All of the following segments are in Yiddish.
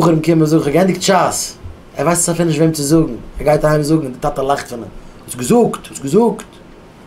בחורים קומען זאגן איך האב געענדיגט שס, ער ווייסט עס אפילו נישט וועם צו זאגן, ער גייט אהיים זאגן און די טאטע לאכט פון אים, האסט געזאגט, האסט געזאגט,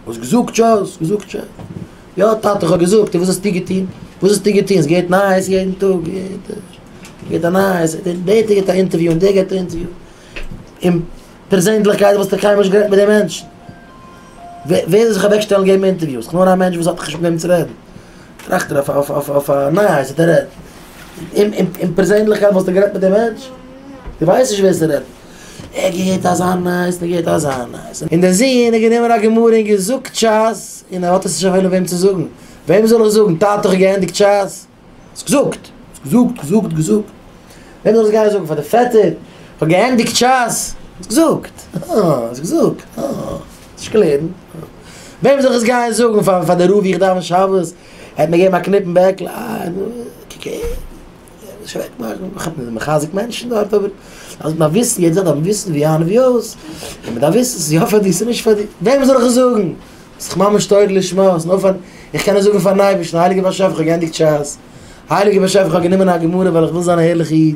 האסט געזאגט שס, געזאגט שס, יא טאטע איך האב געזאגט, און וואס האסטו געטון, וואס האסטו געטון, עס געבט נייעס יעדן טאג, יעדן טאג געבט א נייעס, דער געבט א אינטערוויו און דער געבט א אינטערוויו, און פערזענדליכקייט וואלסטו קיינמאל נישט גערעדט מיט די מענטשן, ווער זאל זיך אוועקשטעלן געבן אינטערוויוס, כ'בין נאר א מענטש וואס האט נישט מיט וועם צו רעדן. טראכט ער אויף אויף אויף אויף א נייעס האט ער רעדט אים אים אין פערזענליכקייט וואלסטו גערעדט מיט די מענטש די ווייסט נישט ווער ס'רעדט ער געהערט אזא נייעס און ער געהערט אזא נייעס און דער זוהן איז גענומען א גמרא און געזאגט ש ס און ער האט עס נישט א וועלן וועם צו זאגן וועם זאל איך זאגן טאטע איך האב געענדיגט ש ס האסט געזאגט האסט געזאגט געזאגט געזאגט וועם זאל איך גיין זאגן פאר די פעטער איך האב געענדיגט ש ס האסט געזאגט אה האסט געזאגט אה. נישט קלערן. וועם זאל איך עס גייען זאגן? פאר פאר די רב ווי איך דאווען שבת? ער האט מיר געגעבן א קניפ אין בעקל. אה, נו, קוק אהער. נישט אוועק מאכן. איך האב מחזק מענטשן דארט, אבער אז מ'דארף וויסן, יעדער דארף וויסן ווי אהן ווי אויס, און מ'דארף וויסן ס'איז יא פאר דיר, ס'איז נישט פאר דיר. וועם זאל איך עס זאגן? ס'איז דאך ממש תורה לשמה. ס'איז נאר פאר, איך קען עס זאגן פאר'ן אייבערשטן, הייליגער באשעפער, כ'האב געענדיגט שס. הייליגער באשעפער, כ'האב גענומען א גמרא ווייל איך וויל זיין א ערליכער איד.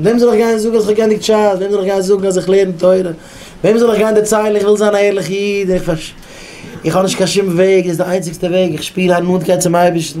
וועם זאל איך גיין זאגן אז איך האב גענדיגט ש ס? וועם זאל איך גיין זאגן אז איך לערן תורה? וועם זאל איך גיין דערציילן איך וויל זיין א ערליכע איד און איך האב נישט קיין שום וועג דאס איז די איינציגסטע וועג איך שפיר א נאנטקייט צום אייבערשטן?